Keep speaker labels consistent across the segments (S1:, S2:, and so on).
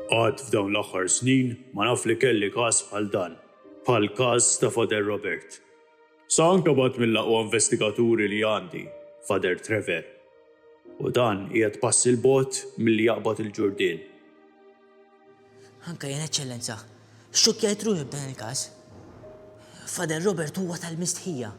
S1: Qatt f'dawn l-aħħar snin ma naf li kelli każ bħal dan, bħall-każ ta' Father Robert. Sa anke b'għadd mill-aqwa investigaturi li għandi, Father Trevor. U dan qiegħed pass 'il bogħod milli jaqbad il-Ġurdien.
S2: Anke jien, Eċċellenza, xxokkjajt ruħi b'dan il-każ. Father Robert huwa tal-mistħija.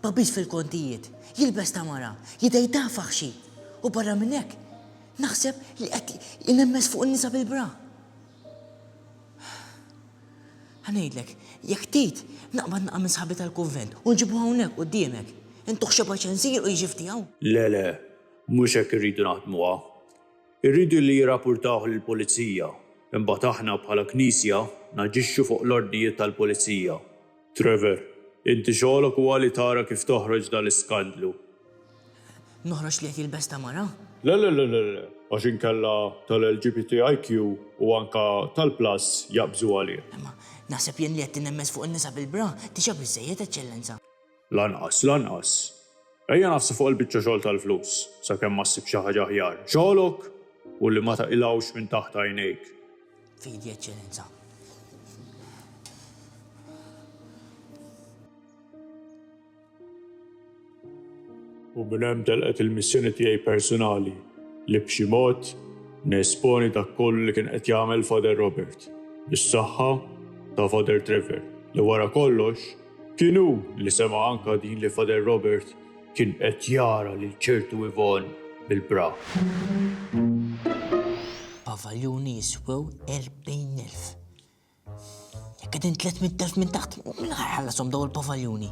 S2: Pabis fil-kontijiet, jilbes ta' mara, jidejh ta' faħxi, u barra minn hekk, naħseb li qed inemmes fuq in-nisa bil-bra. Ħa ngħidlek, jekk tgħid, naqbad naqa' minn sħabi tal-kunvent u nġibu hawnhekk quddiemek. Intuh xebgħa ċensier u jiġi f'tiegħu. Le, le,
S1: mhux hekk irridu naħdmuha. Irridu li jirrapurtawh lill-Pulizija, imbagħad aħna bħala Knisja naġixxu fuq l-ordnijiet tal-Pulizija. Trevor, Inti xogħlok huwa li tara kif toħroġ dal-iskandlu.
S2: Noħroġ li qed jilbes ta' mara? Le le le le
S1: le, għax inkella tal-LGBTIQ u anke tal-Plus jaqbżu għalih. Imma naħseb
S2: jien li qed tinemmez fuq in-nisa bil-bra, diġà biżżejjed, Eċċellenza. Lanqas,
S1: lanqas. Ejja nafsu fuq il-biċċa xogħol tal-flus, sakemm ma ssib xi ħaġa aħjar. Xogħlok hu li ma taqilgħux minn taħt għajnejk. Fidi,
S2: Eċċellenza.
S1: U minn hemm telqet il-missjoni tiegħi persunali li b'xi mod nesponi dak kollu li kien qed jagħmel Father Robert, bis-saħħa ta' Father Trevor, li wara kollox, Kien hu li sema' anka din li Father Robert kien qed jara lil ċertu Yvonne bil-bra.
S2: Pavaljuni jiswew erbgħin elf. Jekk qegħdin tliet mitt elf minn taħt, min ħa jħallashom dawn il-pavaljuni?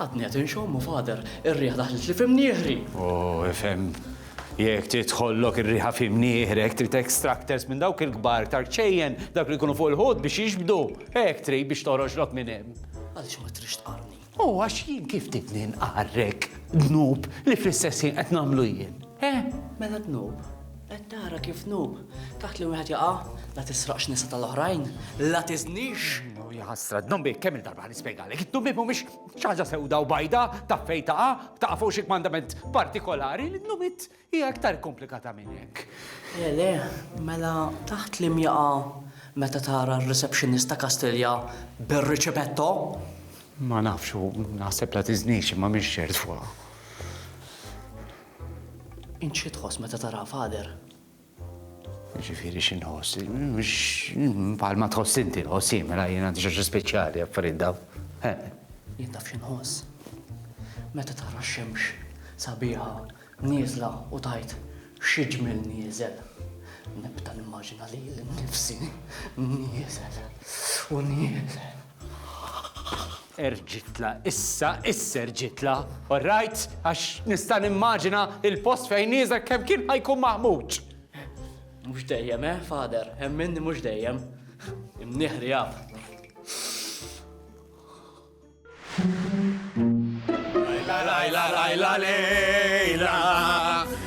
S3: Għadni qed inxommu, Father, ir-riħa daħlitli f'imnieħri! O, ifhem.
S4: Jekk tidħollok ir-riħa f'imnieħrek, trid extractors minn dawk il-kbar iktar ċejjen, dawk li jkunu fuq il-ħut biex jiġbdu. Hekk trid biex toħroġlok minn hemm. Għaliex ma tridx
S3: tqarrni? O, għax jien kif
S4: tridni nqarrek dnub li fl-istess ħin qed nagħmlu jien, eh? Mela
S3: dnub? Qed tara kif nub, taħt li wieħed jaqa', la tisraqx nisa tal-oħrajn, la tiżnix. No, ja ħasra, d-dombi
S4: kemm il-darba nispjegalek, id-dombi mhumiex xi ħaġa sewda u bajda ta' fejn taqa', taqa' fuq xi kmandament partikolari, l-nubit hija aktar komplikata minn hekk. Le, le,
S3: mela taħt li mjaqa' meta tara r-receptionist ta' Kastilja bir-riċipetto?
S4: Ma nafx u naħseb la tiżnix imma mhix ċert fuqha.
S3: Int xi tħoss meta tara Father?
S4: Ġifieri xi nħoss? Bħal ma tħoss inti nħoss jien mela jien għandi xi speċjali affarijiet daw. Eh. Jien
S3: taf xi nħoss? Meta tara x-xemx sabiħa nieżla u tajt xi ġmiel nieżel. Nibda nimmaġina lili nnifsi nieżel u nieżel.
S4: Erġitla, issa, issa erġitla, all right? Għax nista' nimmaġina il-post fejn nieżel kemm kien ħajkun maħmuġ. Mhux
S3: dejjem, eh, father, hemm minni mhux dejjem. Imnieħri jaf. Lajla,
S5: lajla, lajla, lejla.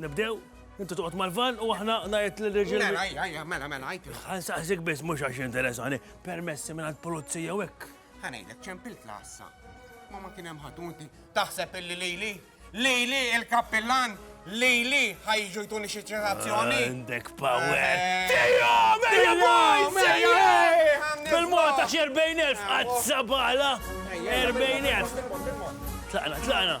S5: Nibdew? Inti toqgħod mal-van u aħna ngħid li reġil. Mela, mela, mela, mela,
S6: għajt. Ħansaqsik biss mhux
S5: għax interessani, permessi minn għall-pulizija u hekk.
S6: Ħanejlek
S5: ċempilt
S6: lassa. Ma
S5: ma kien
S6: hemm ħatunti taħseb
S5: illi
S6: lili, lili il-kappillan, lili ħajġu jtuni xi ċitazzjoni. Għandek power.
S5: Eh. Tejja, mejja boys! Bil-mota xi 40,000 qazzabala. 40,000. Tlaqna, tlaqna.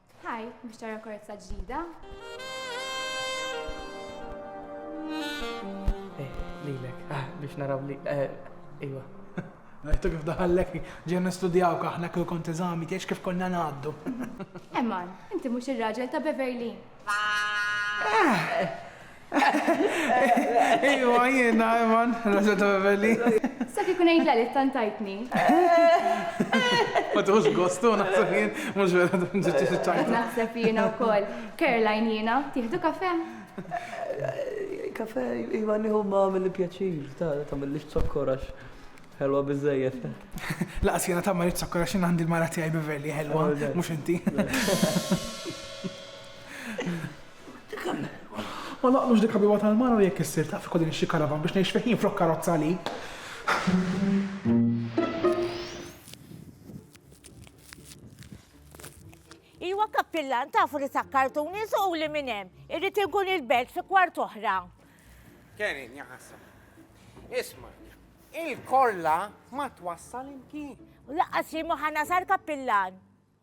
S7: Hi,
S8: biex tara korza ġdida.
S3: Eh, lilek, ah, biex naraw li, eh, iwa. Rajtu
S7: kif daħallek ġen nistudjaw kaħna kull kont eżami tiex kif konna ngħaddu. Emman,
S8: inti mhux ir-raġel ta' Beverly. Eh,
S7: Iwa, jiena, Eman, Rosa ta' Beverly. Saf ikun għid
S8: l-għaliex tant tajtni.
S7: Ma tieħux gost u naħseb jien, mhux vera tkun ġiet xi ċajta. Naħseb jiena wkoll.
S8: Caroline jiena, tieħdu kafè? Kafè,
S3: iva nieħu imma għamilli pjaċir, ta' tagħmillix zokkor għax ħelwa biżżejjed. Lanqas jiena
S7: tagħmellix zokkor għax jien għandi l-mara tiegħi Beverly ħelwa, mhux inti. Kemm ma naqlux dik ħabiba tal-mara u jekk issir taf ikolli nixtri karavan biex ngħix fih jien flok karozza li.
S9: Iwa Kappillan tafu li sakkartuni suquli minn hemm. Irrid inkun il-belt fi kwart oħra. Kerin
S6: jaħasra. Isma', il-korla ma twassal imkien. U laqqas jien ma
S9: ħa nasal Kappillan.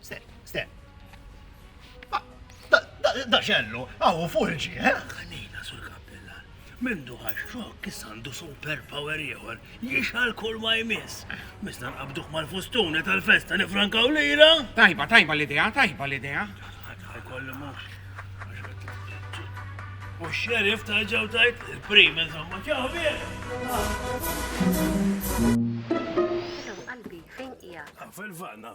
S5: Sten. Da xellu, għawu fulġi, eh? Għanina sur kappellar. Mindu għaxxok kissandu super power ieħor jixal kull ma jmiss. Misna nqabduh mal-fustuni tal-festa nifrankaw lira. Tajba, tajba l-idea,
S6: tajba l-idea. Kollu
S5: mux. U xerif ta' ġew tajt il-prim, insomma, ġaħbir. Qalbi, fejn
S10: ija? Fil-vanna.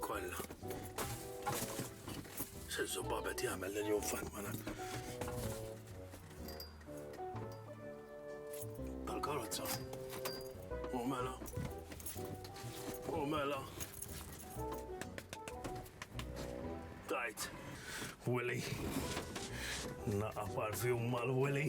S5: Kolla. Sezzu babet jagħmel lil jum fatmana. Tal-karozza. U mela. U mela. Tajt. Willy. Naqa parfjum mal-Willy.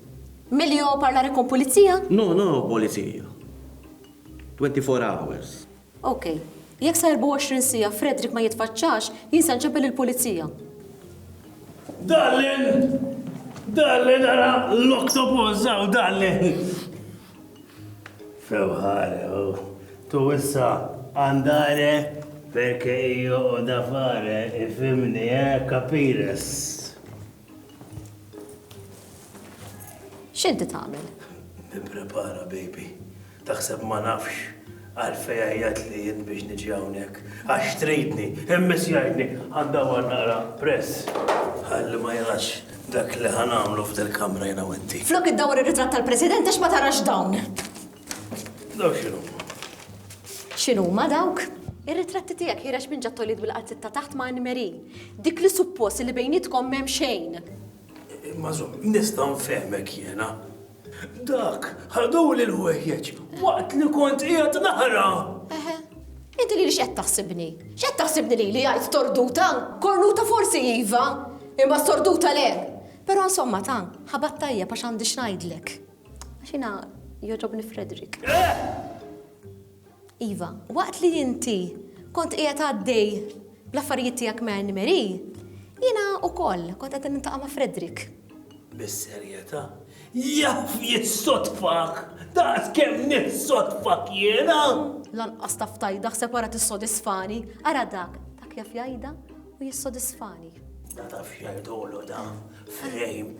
S11: Milli ho
S12: parla re kon pulizija? No, no polizija.
S11: Twenty four hours. Ok.
S12: Jekk sa erbgħa u għoxrin siegħa Frederick ma jitfaċċax, jien se nċempel il-pulizija. Darlin!
S5: Darlin ara l-octopus hawn darlin! Fewħare, oh. tu issa għandare perché io ho da fare, ifimni, eh, capires?
S12: X'inti tagħmel? Nipprepara
S5: baby. Taħseb ma nafx għalfej għajjat li jien biex niġi hawnhekk. Għax tridni, immis jgħidni għandha għal naqra press. Ħalli ma jarax dak li ħanamlu f'del kamra jena wetti. Flok id-dawar ir-ritratt
S12: tal-President għax ma tarax dawn.
S5: Daw x'inhuma?
S12: X'inhuma dawk? Ir-ritratti tiegħek ħirex minn ġattoliet bil-qalzit ta' taħt ma' Anne-Marie. Dik li suppost li bejnietkom m'hemm xejn. Imma żomm,
S5: nista' nfehmek jiena. Dak ħaduli l-ħwejjeġ waqt li kont qiegħed naħra. Eħe,
S12: inti li x'qed taħsibni? X'qed taħsibni li li jgħid torduta? Kornuta forsi iva, imma sorduta le. Però insomma ta, ħabat tajjeb għax għandi x'ngħidlek. Xina joġobni Frederick. Iva, waqt li inti kont qiegħed għaddej bl-affarijiet tiegħek ma' Anne Marie, jiena ukoll kont qed nintaqa' ma' Frederick. Bis-serjetà?
S5: Jaf jissodfak! Daqs kemm nissodfak jiena! Lanqas taf
S12: tajda ħseb wara tissodisfani, ara dak, dak jaf jgħidha u jissodisfani. Da taf
S5: jgħidulu da,
S12: Frame.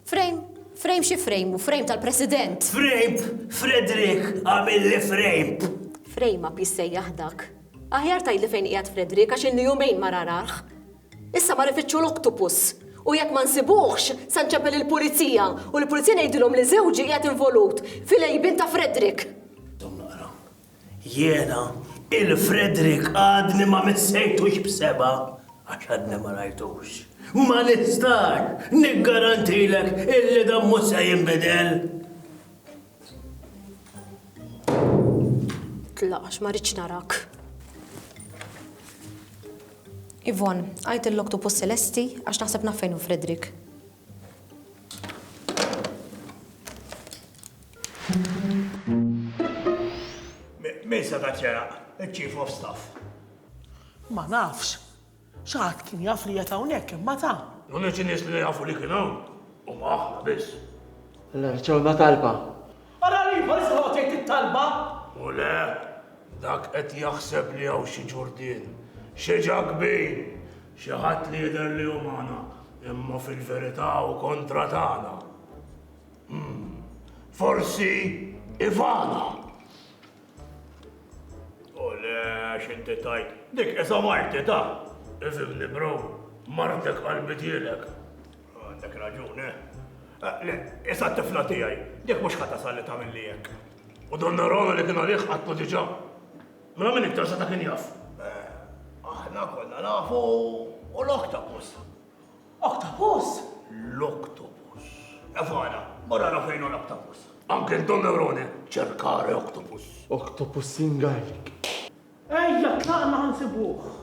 S12: Frame? Frame xi frame u frame tal-President? Frame!
S5: Frederick għamilli frame! Frame up
S12: jissejjaħ dak. Aħjar tajli fejn qiegħed Frederick għax ilni jumejn ma rararh. Issa mar ifittxu l-oktopus. U jekk ma nsibuhx, se nċeppel il-pulizija u l-pulizija ngħidilhom li żewġi qiegħed involut fil-għejbien ta' Frederick.
S5: Jiena, il-Frederick għadni ma missejtux b'sebgħa għax għadni ma rajtux. Ma nistax niggarantilek illi dan mhux se jinbidel.
S12: Tlaqax ma rridx narak. Ivon, għajt il-loktu pus Celesti għax naħseb naf fejn Frederick.
S5: Min seta' ċeraq? Il-Chief of Staff.
S7: Ma nafx. Xi ħadd kien jaf li qed hawnhekk imma ta. L-uniċi nies li
S5: jafu li kien hawn huma aħna biss. L-erċona
S3: talba. Ara li
S7: ieħor iżroq tgħid it-talba! U le,
S5: dak qed jaħseb li hawn xi ġurdien, xi ġakbin, xi ħadd li jidher li hu magħna, imma fil-verità hu kontra tagħna. Umm. Forsi Ivana! U le, xinti tajt, dik esa marti ta! Ifimni bro, martek qalbi tielek. Għandek raġun, eh? eh le, esa tifla tijaj, dik mux ħata salli ta' milli jek. U donna rona li kien għalih għattu diġa. Mela minn iktar sa ta' kien jaf. Eh, aħna konna nafu u l-okta posta.
S7: Octopus?
S5: L-octopus. Evana, mor ara fejn hu l-octopus. Uncle Don Neurone, cercare octopus. Octopus in
S13: Gaelic. Ejja,
S7: tlaqna ħa nsibuh.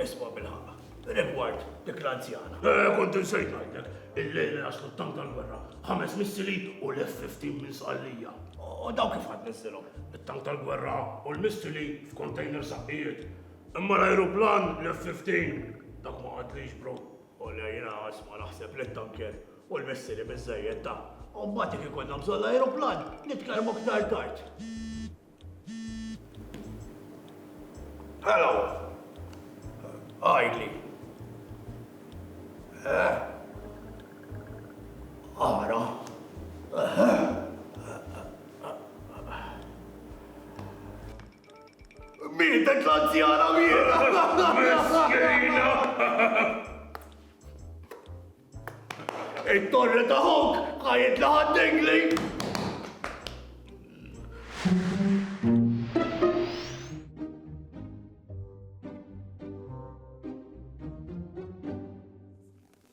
S5: Isma' bil-ħaqq, rigward dik l-anzjana. Eh, kont insejt ngħidlek, il-lejl li naslu t-tank tal-gwerra, ħames missili u l-F-15 minn sqallija. U daw kif ħadd niżilhom? It-tank tal-gwerra u l-missili f'container saqqijiet. Imma l-ajruplan l-F-15 dak ma qatliehx bro. Olja jiena isma' naħseb li t-tanker u l-missili biżżejjed ta. U mbagħad jekk ikollna bżonn l-ajruplan nitkellmu aktar tard. Hello! Għidli. Eh? Ara. Eh? Mietet l-anzjana Miskina! It-torri ta' ħuk għajt li ħaddingli!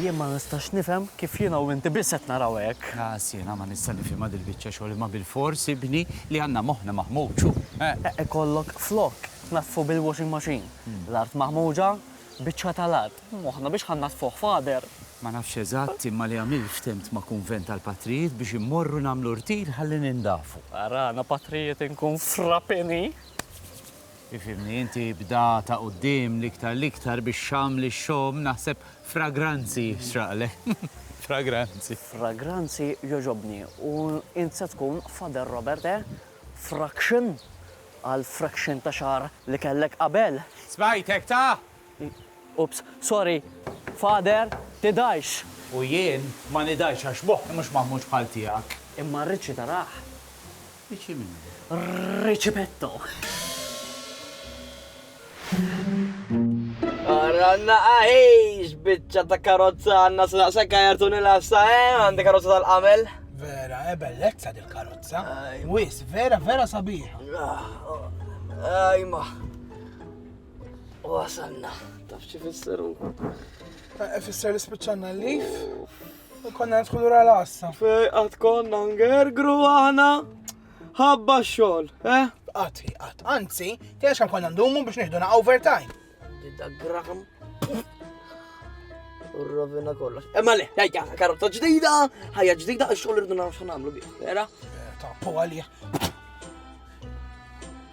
S3: Jien ma nistax nifhem kif jiena u inti biss qed naraw hekk. Ħlas jiena ma nista'
S4: nifhimha dil-biċċa xogħol imma bilfors ibni li għandna moħħna maħmuġ hu. Ikollok
S3: flok tnaddfu bil-washing machine, l-art maħmuġa, biċċa tal-art, moħħna biex ħa nnaddfuh Father? Ma nafx eżatt
S4: imma li għamilt ftehmt ma' kunvent tal-patrijiet biex immorru nagħmlu rtir ħalli nindafu. Arana patrijiet
S3: inkun frapeni.
S4: Ifhimni, inti bda ta' quddiem l-iktar l-iktar biex xamm li xxomm naħseb fragranzi jixraqlek. Fragranzi. Fragranzi
S3: jogħġobni. U int se tkun Father Robert, eh? Fraction? Għall-fraction ta' xagħar li kellek qabel? Smajtek ta'!
S4: Oops,
S3: sorry, Father, tidgħix! U jien
S4: ma nidgħix għax moħħi mhux magħmulx bħal tiegħek. Imma rridx itarah.
S3: Rridx
S4: min? Ricipetto!
S14: Ara naqa' hejx, biċċa ta' karozza għandna x'naqsek għajart u nilgħabsha, eh? Għandi karozza tal-qamel. Vera, eh
S7: bellezza dil-karozza. Wis, vera, vera sabiħa.
S14: Ajma. U għasanna, taf xi fisseru. Eh,
S7: fisser li spiċċanna l-lif. U konna nidħlu ra l-assa. Fej, għat konna
S14: ngergru għana. Ħabba xol, eh? Għat, għat,
S7: anzi, tiex kan konna ndumu biex nieħdu na overtime. Didda gram.
S14: Urrovina kollox. Emma eh, le, jajja, karota ġdida, ħajja ġdida, xol irdu naraw xo namlu bi. Vera? Eh, ta' po għalija.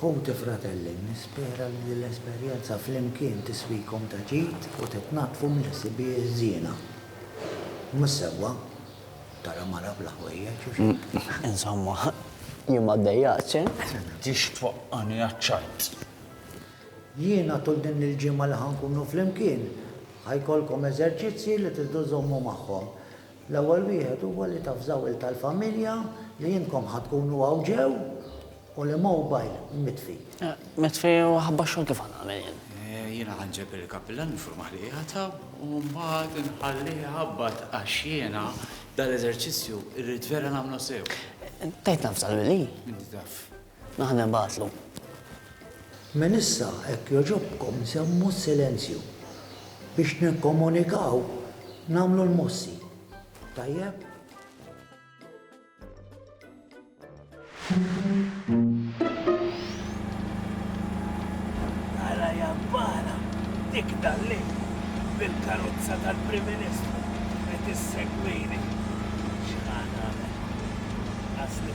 S15: Ħuti fratelli, nispera li din l-esperjenza flimkien tiswikom ta' ġid u titnaddfu mill-ħsibijiet żiena. Mhux sewwa tara mara bla ħwejjeġ, u x'hekk. Insomma,
S3: jien ma ddejjaqtx, eh? Tridx
S4: twaqqagħni għaċ-ċajt!
S15: Jiena tul din il-ġimgħa li ħa nkunu flimkien, ħa jkollkom eżerċizzji li tridu żommu magħhom. L-ewwel wieħed huwa li tavżaw il tal-familja li intkom ħa tkunu hawn ġew u li mowbajl mitfi. Mitfi u
S3: ħabba x-xogħol kif ħa nagħmel jien? Jiena ħa nġeb
S4: il-kapillan nifurmah li qiegħed hawn u mbagħad inħallih iħabbat għax jiena dal-eżerċizzju rrid vera nagħmlu sew. Tgħid navża
S3: lili? Inti taf.
S4: Aħna nibgħatlu.
S15: Minn issa hekk jogħġobkom żommu s-silenzju. Biex nikkomunikaw nagħmlu l-mossi. Tajjeb?
S5: Ara jabbara dik dal-lejl bil-karozza tal-Prim Ministru qed issegwini. X'ħa nagħmel? Asli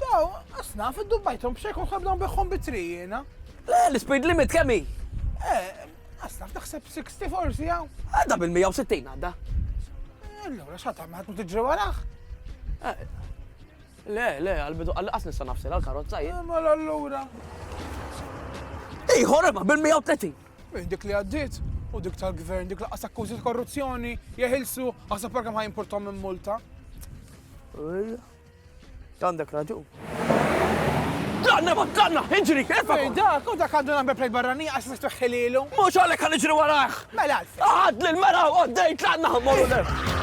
S7: Daw, asnaf, iddubbajthom b'xejn kont nibda nbiħħhom bi tri jiena. Le, l-speed
S14: limit kemm hi? Eh,
S7: asnaf naħseb 60 forsi hawn. Għadda bil-160
S14: għadda. Eh, allura
S7: x'għad tagħmel ħadd tiġri waraħ?
S14: Eh, le, le, għal-bidu għal-qas nista' nafsir għal-karozza jien. Eh, mela allura. Ejħor imma bil-130. Minn dik li
S7: għaddiet u dik tal-gvern dik laqas akkużi ta' korruzzjoni jeħilsu għasab parka ma jimportom minn multa.
S14: Għandek raġun. Tlaqna ma tlaqna, iġri, erfa' Ej, dak, u dak għandu number
S7: plate barrani għax mux tuħħililu. Mux għalek għan iġri
S14: waraħ. Mela, għad
S7: li l-mera u
S14: għaddej tlaqna għamorru l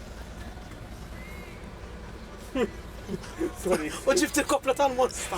S7: U ġibt il-kopla tal-mosta.